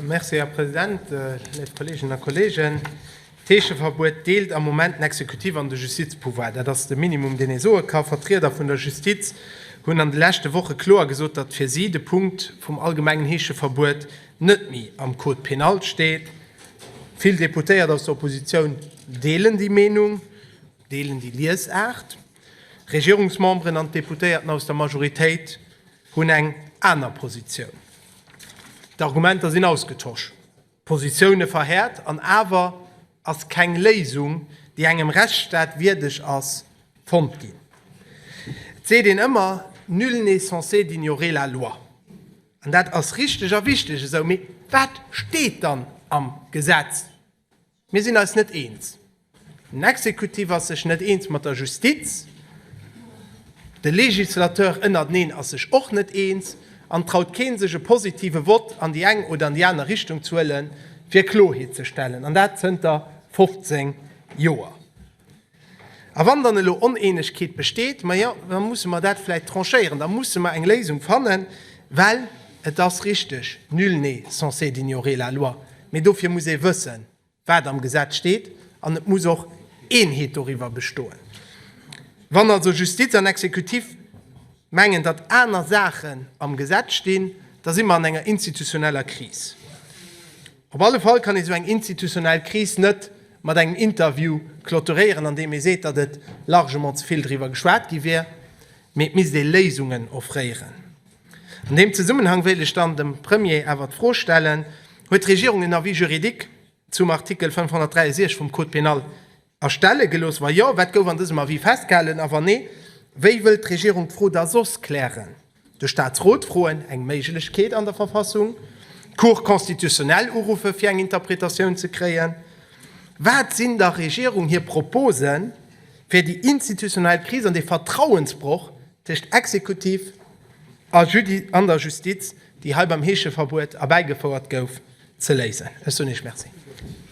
Merci, Här President. Léif Kolleeginnen a Kolleegen, D'Heescheverbuet deelt am Moment den Exekutiv an de Justizpouvoir. Dat ass de Minimum, deen ee soe ka. Vertrieder vun der Justiz hunn an de leschte Woche kloer gesot, datt fir si de Punkt vum allgemengen Heescheverbuet net méi am Code pénal steet. Vill Deputéiert aus der Oppositioun deelen déi Meenung, deelen déi Liesaart. Regierungsmemberen an d'Deputéierten aus der Majoritéit Hunn eng aner Positioun. D'Argumenter sinn ausgetosch, d'Positioune verhäert, an awer ass keng Léisung, déi engem Rechtsstaat wierdeg ass, fonnt ginn. Et seet een ëmmer, Nul n'est censé d'ignorer la loi. An dat ass richteg a wichteg esou. Mee wat steet dann am Gesetz? Mir sinn eis net eens. Den Exekutiv ass sech net eens mat der Justiz, de Législateur ënnerteneen ass sech och net eens, an et traut keen sech e positive Vott an déi eng oder an déi aner Richtung ze huelen, fir Kloheet ze stellen, an dat zënter 15 Joer. A wann dann elo Oneenegkeet besteet, majo, da musse mer dat vläicht tranchéieren, da musse mer eng Léisung fannen, well et ass richteg, Nul n'est censé d'ignorer la loi, mee dofir muss ee wëssen, wat am Gesetz steet, an et muss och Eenheet doriwwer bestoen. Wann also Justiz an Exekutiv mengen, datt aner Saachen am Gesetz stinn, da si mer an enger institutioneller Kris. Op alle Fall kann ee sou eng institutionell Kris net mat engem Interview clôturéieren, an deem ee seet, datt et largement ze vill driwwer geschwat gi wier, mee et misst ee Léisungen offréieren. An deem Zesummenhang wéilt ech dann dem Premier awer d'Fro stellen, Huet d'Regierung en Avis juridique zum Artikel 563 vum Code pénal Erstelle gelooss? Wa jo, wat gouf an dësem Avis festgehalen? A wann nee, wéi wëllt d'Regierung d'Fro da soss klären? De Staatsrot froen, eng Méiglechkeet an der Verfassung? D'Cour constitutionnelle uruffen, fir eng Interpretatioun ze kréien? Wat sinn der Regierung hir Proposen, fir déi institutionell Kris an dee Vertrauensbroch tëscht Exekutiv an der Justiz, déi hei beim Heescheverbuet erbäigefouert gouf, ze léisen? Ech soen Iech Merci.